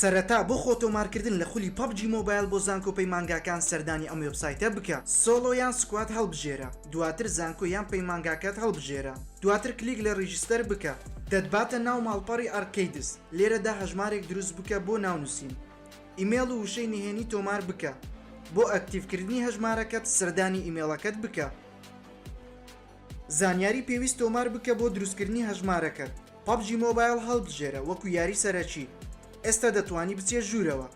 سەرەتا بۆ خۆ تۆمارکردن لە خولی پەبجی مۆبایل بۆ زانکۆ پەیمانگاکان سەردانی ئەم وێبسایتە بکە سۆڵۆ یان سکواد هەڵبژێرە دواتر زانکۆ یان پەیمانگاکەت هەڵبژێرە دواتر کلیک لە ڕیجستەر بکە دەتباتە ناو ماڵپەڕی ئارکەیدس لێرەدا هەژمارێک دروست بکە بۆ ناونوسین ئیمێڵ و وشەی نهێنی تۆمار بکە بۆ ئەکتیڤکردنی هەژمارەکەت سەردانی ئیمێڵەکەت بکە. زانیاری پێویست تۆمار بکە بۆ دروستکردنی هەژمارەکەت پەبجی مۆبایڵ هەڵبژێرە وەکو یاری سەرەکی ئێستا دەتوانی بچیە ژوورەوە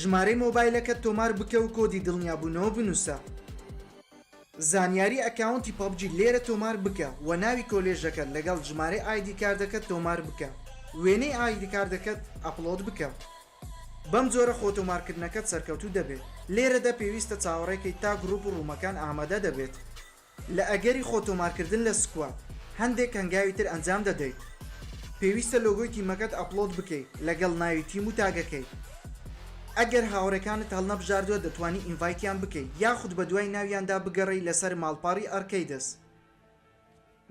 ژمارەی مۆبایلەکەت تۆمار بکە و کۆدی دڵنیابوونەوە بنووسە زانیاری ئەکاونتی پەبجی لێرە تۆمار بکە وە ناوی کۆلێژەکەت لەگەڵ ژمارەی ئایدی کاردەکەت تۆمار بکە وێنەی ئایدی کاردەکەت ئەپڵۆد بکە. بەم جۆرە خۆتۆمارکردنەکەت سەرکەوتوو دەبێت. لێرەدا پێویستە چاوەڕێکەیت تا گروپ و ڕوومەکان ئامادە دەبێت. لە ئەگەری خۆتۆمارکردن لە سکواد، هەندێک هەنگاوی تر ئەنجام دەدەیت. پێویستە لۆگۆی تیمەکەت ئەپلۆد بکەیت لەگەڵ ناوی تیم و تاگەکەی. ئەگەر هاوڕێکانت هەڵنەبژاردوە دەتوانی ئینڤایتیان بکەیت یاخود بەدوای ناویاندا بگەڕێی لەسەر ماڵپەڕی ئەرکەیدس.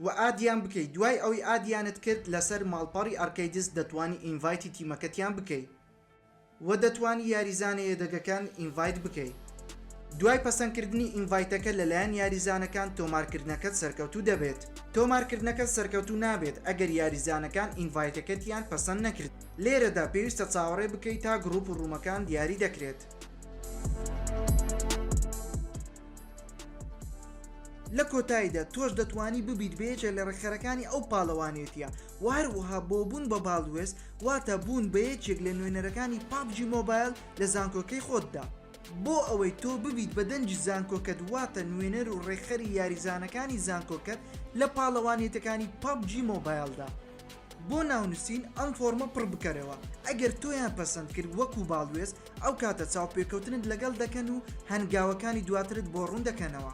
وە ئادیان بکەی دوای ئەوەی ئادیانت کرد لەسەر ماڵپەڕی ئەرکەیدس دەتوانی ئینڤایتی تیمەکەتیان بکەی وە دەتوانی یاریزانە یەدەگەکان ئینڤایت بکەی دوای پەسەند کردنی ئینڤایتەکە لەلایەن یاریزانەکان تۆمار کردنەکەت سەرکەوتوو دەبێت تۆمار کردنەکەت سەرکەوتوو نابێت ئەگەر یاریزانەکان ئینڤایتەکەتیان پەسەند نەکرد لێرەدا پێویستە چاوەڕێ بکەی تا گڕوپ و ڕومەکان دیاری دەکرێت. لە کۆتاییدا تۆش دەتوانی ببیت بە یەکێک لە ڕێکخەرەکانی ئەو پاڵەوانێتییە و هەروەها بۆ بوون بە باڵوێز واتە بوون بە یەکێک لە نوێنەرەکانی پابجی مۆبایل لە زانکۆکەی خۆتدا بۆ ئەوەی تۆ ببیت بە دەنگی زانکۆکەت واتە نوێنەر و ڕێکخەری یاریزانەکانی زانکۆکەت لە پاڵەوانێتەکانی پابجی مۆبایلدا بۆ ناونوسین ئەم فۆرمە پڕ بکەرەوە ئەگەر تۆیان پەسەند کرد وەکو باڵوێز ئەو کاتە چاوپێکەوتنت لەگەڵ دەکەن و هەنگاوەکانی دواترت بۆ ڕوون دەکەنەوە.